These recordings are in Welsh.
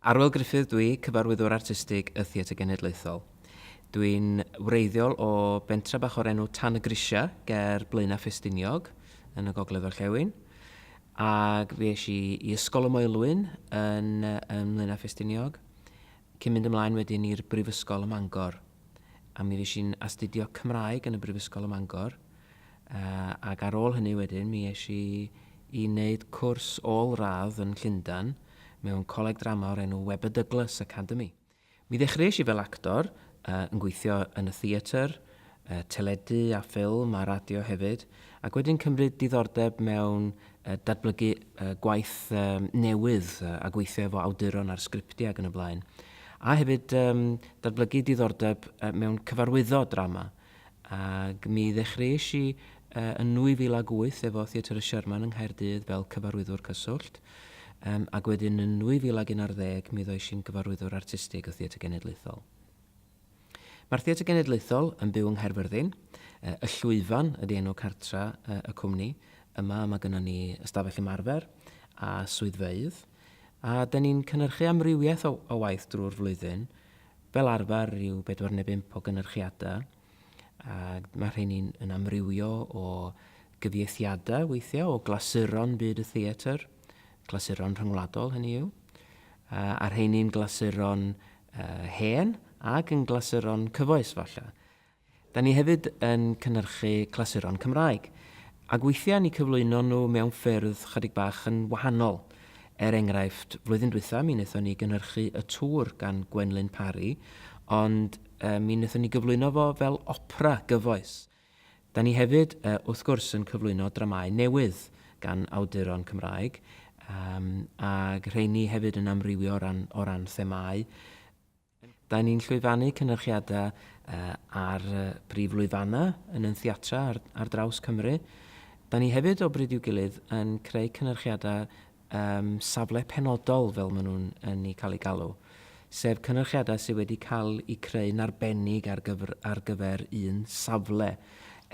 Arwel Gruffydd dwi, Cyfarwyddwr Artistig y Theatr Genedlaethol. Dwi'n wreiddiol o bentra bach o'r enw Tan y Grisiau ger Blaenau Ffestiniog yn y Gogledd Orllewin ac fi eisiau i Ysgol y Moelwyn yn, yn Mlaenau Ffestiniog cyn mynd ymlaen wedyn i'r Brifysgol ym Mangor. a mi fues i'n astudio Cymraeg yn y Brifysgol ym Mangor, ac ar ôl hynny wedyn mi es i i wneud cwrs ôl-radd yn Llundain mewn coleg drama o'r enw Webber Douglas Academy. Mi ddechreuais i fel actor, yn gweithio yn y theatr, teledu a ffilm a radio hefyd, ac wedyn cymryd diddordeb mewn datblygu gwaith newydd a gweithio efo awduron ar sgriptiau ac yn y blaen. A hefyd datblygu diddordeb mewn cyfarwyddo drama. Ac mi ddechreuais i yn 2008 efo Theatr y Sherman yng Nghaerdydd fel cyfarwyddwr cyswllt, ac wedyn yn 2011 mi ddois i'n gyfarwyddwr artistig o Theatr Genedlaethol. Mae'r Theatr Genedlaethol yn byw yng Nghaerfyrddin. Y Llwyfan ydy enw cartra y cwmni. Yma mae gynnon ni ystafell ymarfer a swyddfeydd, a 'dyn ni'n cynhyrchu amrywiaeth o o waith drwy'r flwyddyn, fel arfer ryw bedwar neu bump o gynyrchiadau, a mae rheini'n yn amrywio o gyfieithiadau weithiau o glasuron byd y theatr, clasuron rhyngwladol hynny yw, a rheini'n glasuron hen ac yn glasuron cyfoes falle. Da ni hefyd yn cynhyrchu clasuron Cymraeg, ac weithiau ni cyflwyno nhw mewn ffyrdd chydig bach yn wahanol. Er enghraifft, flwyddyn dwytha mi wnaethon ni gynhyrchu Y Tŵr gan Gwenlyn Parry, ond mi wnaethon ni gyflwyno fo fel opera gyfoes. Da ni hefyd, wrth gwrs, yn cyflwyno dramâu newydd gan awduron Cymraeg, yym, ag rheini hefyd yn amrywio o ran o ran themâu. Da ni'n llwyfannu cynyrchiada yy ar yy brif lwyfanna yn yn theatra ar ar draws Cymru. Da ni hefyd, o bryd i'w gilydd, yn creu cynyrchiada um, safle penodol fel maen nhw'n yn ei cael ei galw, sef cynyrchiadau sydd wedi cael eu creu'n arbennig ar gyfer, ar gyfer un safle.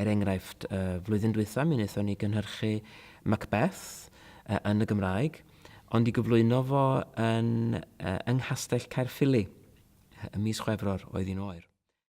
Er enghraifft, uh, flwyddyn dwytha mi wnaethon ni gynhyrchu Macbeth uh, yn y Gymraeg, ond i gyflwyno fo yn, uh, yng Nghastell Caerffili y mis Chwefror oedd un oer.